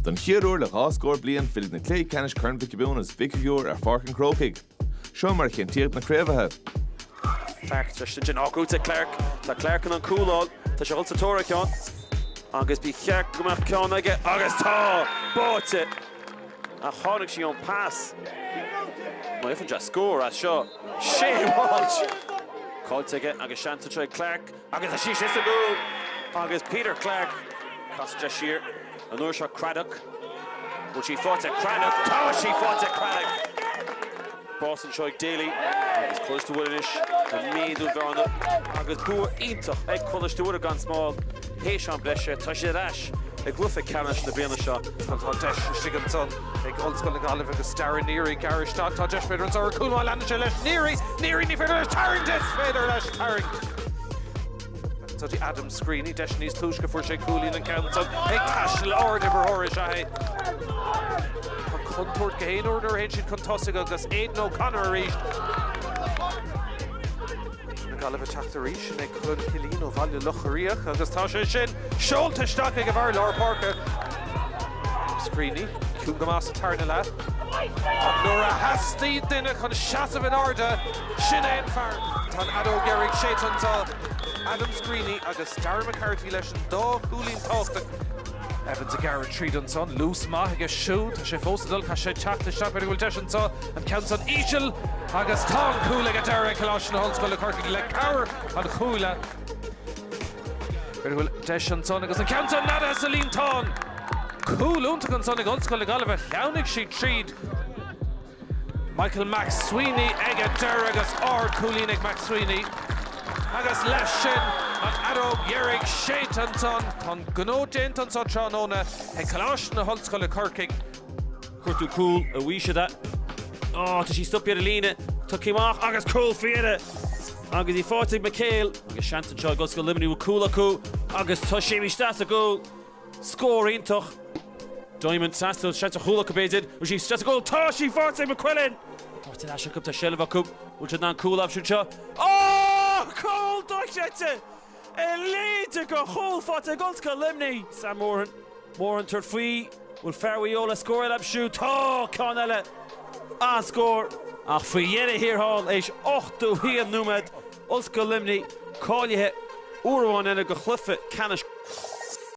Don chéad uair le dhá scór bliain fillfidh na cluichí ceannais Corn Mhic Giobúin agus Mhic Shigiúir ar Pháirc an Chrócaigh. Seo mar a chinntíodh na craobhaithe. Clarke tar éis sin sin acu de Clarke. Tá Clarke in ann cúl a fháil. Tá sé dhul sa tóir ar cheann. Agus ba cheart go mbeadh ceann aige agus tá! Faighte! Ach tháinig sí ón pas. Má fhaigheann sé scór as seo, Shea Walsh! Caillte aige agus seans anseo ag Clarke. Agus is í sin sa gcúl agus Peter Clarke caite siar, an uair seo Craddock, bhfuil sí faighte? Craddock, tá sí faighte! Craddock! Spás anseo ag Daly agus Coláiste Mhuire anois le méadú bhearna agus bua iontach ag Coláiste Mhuire gan Smál théis am breise. Tá siad ar ais i gcluiche ceannais na bliana seo agus tá deis istigh anseo. ag Ollscoil na Gaillimhe agus Darragh Neary, gearradh isteach. Tá deis, b'fhéidir, anseo ar chúl má leanann sé leis. Neary! Neary, ní féidir leis tarraingt! Is féidir leis tarraingt! Go dtí Adam Screeney, deis níos túisce fuair sé cúilín an ceann san ag taisteal ardimreoir is ea é. Tá contúirt gach aon uair nuair a théann siad chun tosaigh agus Aidan O'Connor arís. na Gaillimhe teacht arís, sin é Cullen Killeen ó Bhaile Locha Riach agus tá sé sin seolta isteach ag an bhfear lár páirce. Adam Screeney, ciúin go maith sa tarna leath ach nuair a theastaigh duine chun seasamh in airde, sin é an fear! Tá an fheadóg dheiridh séidte anseo, Adam Screeney agus Darragh McCarthy leis an dá chúilín tábhachtach. Evans ag gearradh tríd anseo, luas maith aige siúd, tá sé fós ag dul, caithfidh sé teacht isteach, b'fhéidir go bhfuil deis anseo. An ceann san íseal agus tá an cúl ag an deireadh ag Coláiste na hOllscoile Corcaigh le cabhair an chuaille. B'fhéidir go bhfuil deis ansan agus an ceann san neadaithe sa líontán! Cúl iontach ansan ag Ollscoil na Gaillimhe, shleamhnaigh siad tríd. Michael Mac Sweeney ag an deireadh agus ardchúilín ag Mac Sweeney. Agus leis sin, an fheadóg dheiridh séidte ansan, tá an gnó déanta anso tráthnóna ag Coláiste na hOllscoile Corcaigh. Cuartú cúl, a Fhaoiside. Ó, tá sí stoptha ar an líne. Tá céim amach agus cúl fíre! Agus í faighte ag McHale, agus seans anseo ag Ollscoil Luimnigh bhfuil cúl acu, agus tá sí imithe isteach sa gcúl! Scór iontach. Diamond trasna, seans ar chúl acu b'fhéidir. Bhfuil sí isteach sa gcúl? Tá sí faighte ag McQuillan! Faighte ar ais acu, tá seilbh acu. Bhfuil siad in ann cúl a aimsiú anseo? Ó! Cúl dochreidte! a leithéid de chúl faighte ag Ollscoil Luimnigh. Seán Morahan, Morahan tabhairt faoi, bhfuil fear Mhaigh Eo le scór eile a aimsiú? Tá! Ceann eile! An-scór! Ach faoi dheireadh thiar thall, éis 81 nóiméad, Ollscoil Luimnigh cáilithe uair amháin eile do chluiche ceannais.